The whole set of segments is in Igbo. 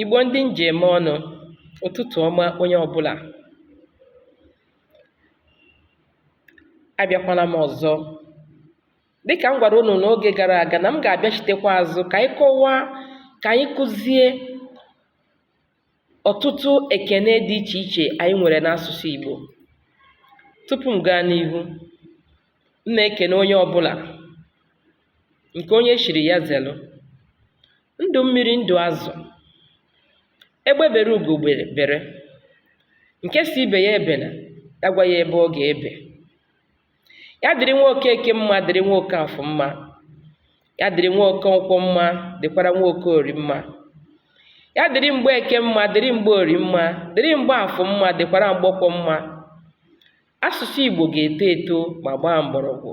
Igbo ndị m ji eme ọnụ, ụtụtụ ọma onye ọbụla. Abịakwana m ọzọ. Dịka m gwara unu n'oge gara aga na m ga-abịachitekwa azụ ka anyị kọwaa, ka anyị kụzie Ọtụtụ ekene dị iche iche anyị nwere n'asụsụ Igbo. Tupu m gaa n'ihu, m na-ekene onye ọbụla nke onye chiri ya zelụ. Ndụ mmiri ndụ azụ, egbe bere ugo bere, nke sị ibe ya ebena, agwa ya ebe ọ ga-ebe. ya dịrị nwa okeke mma dịrị nwa okafọ mma ya dịrị nwa okonkwọ mma dịkwara nwa okorie mma ya dịrị mgbeke mma dịrị mgborie mma dịrị mgbafọ mma dịkwara mgbọkwọ mma asụsụ igbo ga-eto eto ma gbaa mgbọrọgwụ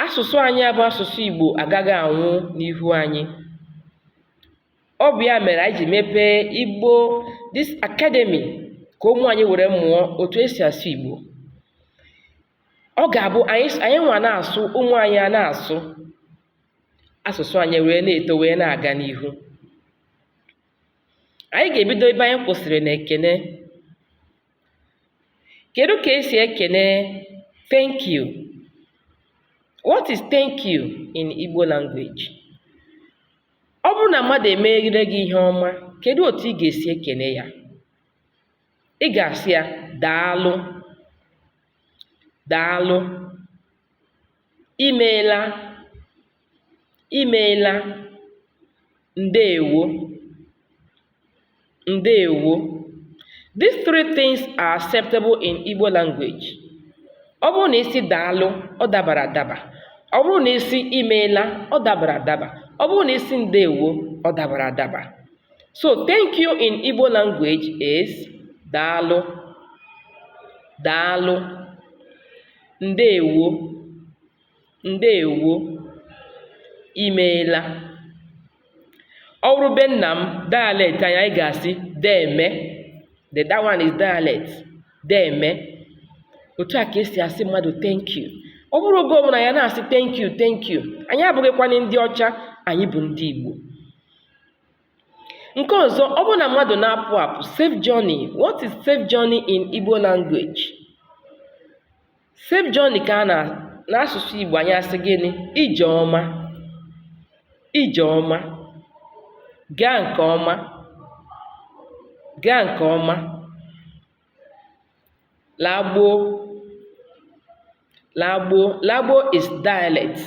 asụsụ anyị a bụ asụsụ igbo agaghị anwụ n'ihu anyị ọ bụ ya mere anyị ji mepee Igbo this Academy ka ụmụ anyị were mụọ otu esi asụ Igbo ọ ga-abụ anyị nwa na-asụ ụmụ anyị a na-asụ asụsụ anyị wee na-eto wee na-aga n'ihu anyị ga-ebido ebe anyị kwụsịrị na ekene kedu ka esi ekene thank you what is thank you in Igbo language Ọ bụrụ na mmadụ emeere gị ihe ọma, kedu otu ị ga-esi ekene ya? Ị ga-asị ya daalụ, daalụ, imeela, imeela, ndeewo, Ndewo. These three things are acceptable in Igbo language. Ọ bụrụ na ị sị daalụ, ọ dabara adaba. Ọ bụrụ na ị sị imeela, ọ dabara adaba. Ọ bụrụ na ị sị ndewo, ọ dabara adaba. So thank you in Igbo language is daalụ, daalụ, ndewo. Ndeewo. I meela. Ọ wụrụ be nna m, dialect anyị anyị ga-asị deeme. The that one is dialect. Deeme. Otu a ka esi asị mmadụ thank you. Ọ bụrụ oge ọbụla ya na-asị thank you, thank you. Anyị abụghịkwanụ ndị ọcha, anyị bụ ndị Igbo. Nke ọzọ, ọ bụrụ na mmadụ na-apụ apụ, safe journey, what is safe journey in Igbo language? Safe journey ka a na n'asụsụ Igbo anyị asị gịnị? Ije ọma, ije ọma, gaa nke ọma, gaa nke ọma. laa gboo laa gboo laa gboo is dialect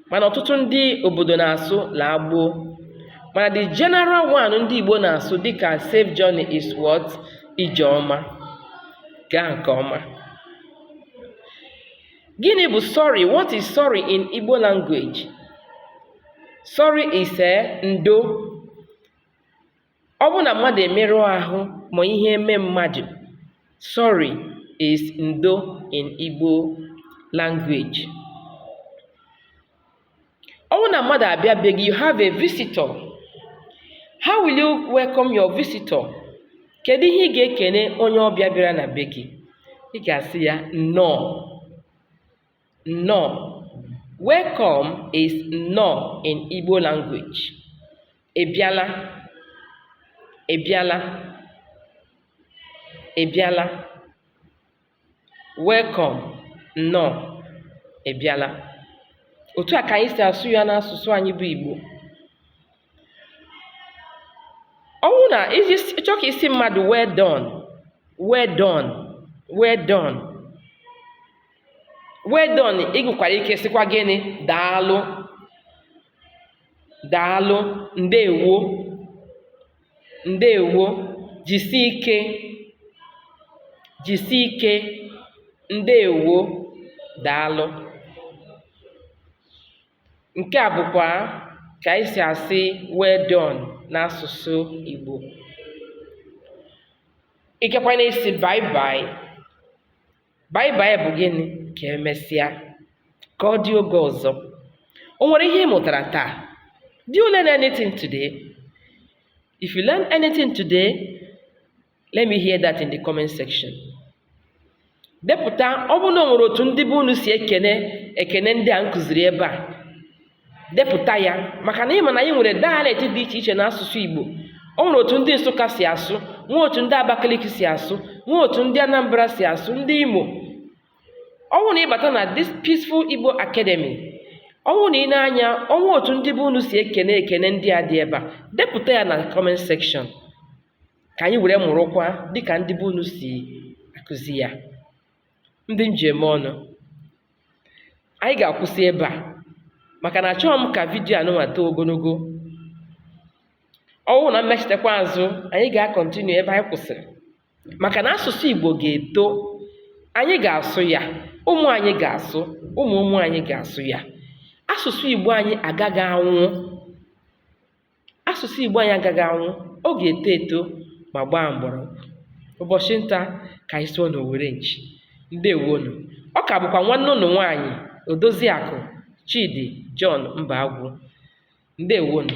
mana ọtụtụ ndị obodo na-asụ laa gboo mana the general one ndị Igbo na-asụ dịka safe journey is what ije ọma gaa nke ọma gịnị bụ sorry what is sorry in Igbo language sorry is eh, ndo Ọ bụrụ na mmadụ emerụọ ahụ ma ihe emee mmadụ, sorry is ndo in Igbo language. Ọ bụrụ na mmadụ abịa be gị, you have a visitor. How will you welcome your visitor? Kedu ihe ị ga-ekene onye ọbịa bịara na be gị? Ị ga-asị ya nnọọ. Nnọọ. Welcome is nnọọ in Igbo language. Ị bịala. Ị bịala. Ị bịala. Welcome. Nnọọ. Ị bịala. Otu a ka anyị si asụ ya n'asụsụ anyị bụ Igbo. ọ bụrụ na ị chọọ ka ị sị mmadụ well done well done well done well done ị nwekwara ike sịkwa gịnị daalụ daalụ ndewo ndewo jisi ike jisi ike ndewo daalụ Nke a bụkwa ka anyị si asị well done n'asụsụ Igbo. Ị gakwa na-asị bye bye. Bye bye bụ gịnị? Ka emesịa. Ka ọ dị oge ọzọ. O nwere ihe ị mụtara taa? Do you learn anything today? If you learn anything today, let me hear that in the comment section depụta ọ bụrụ na o nwere otu ndị be unu si ekene ekene ndị a m kụziri ebe a depụta ya maka na ị ma na anyị nwere dialect dị iche iche n'asụsụ Igbo o nwere otu ndị Nsụka si asụ nwee otu ndị Abakaliki si asụ nwee otu ndị Anambra si asụ ndị Imo ọ bụrụ na ị bata na this peaceful Igbo Academy ọ bụrụ na ị na-anya o nwee otu ndị be unu si ekene ekene ndị a dị ebe a depụta ya na comment section ka anyị were mụrụkwa dịka ndị be unu si akụzi ya ndị m ji eme ọnụ anyị ga-akwụsị ebe a maka na achọghị m ka vidiyo anụnwa too ogologo ọ wụrụ na m echitekwa azụ anyị ga-akọntinu ebe anyị kwụsịrị maka na asụsụ Igbo ga-eto anyị ga-asụ ya ụmụ anyị ga-asụ ụmụ ụmụ anyị ga-asụ ya asụsụ Igbo anyị agaghị anwụ asụsụ Igbo anyị agaghị anwụ ọ ga-eto eto ma gbaa mgbọrọgwụ ụbọchị nta ka anyị sụọ n'owere nchi ndewonu ọ ka bụkwa nwanne unu nwaanyị Odoziakụ Chidi John Mbagwu ndewonu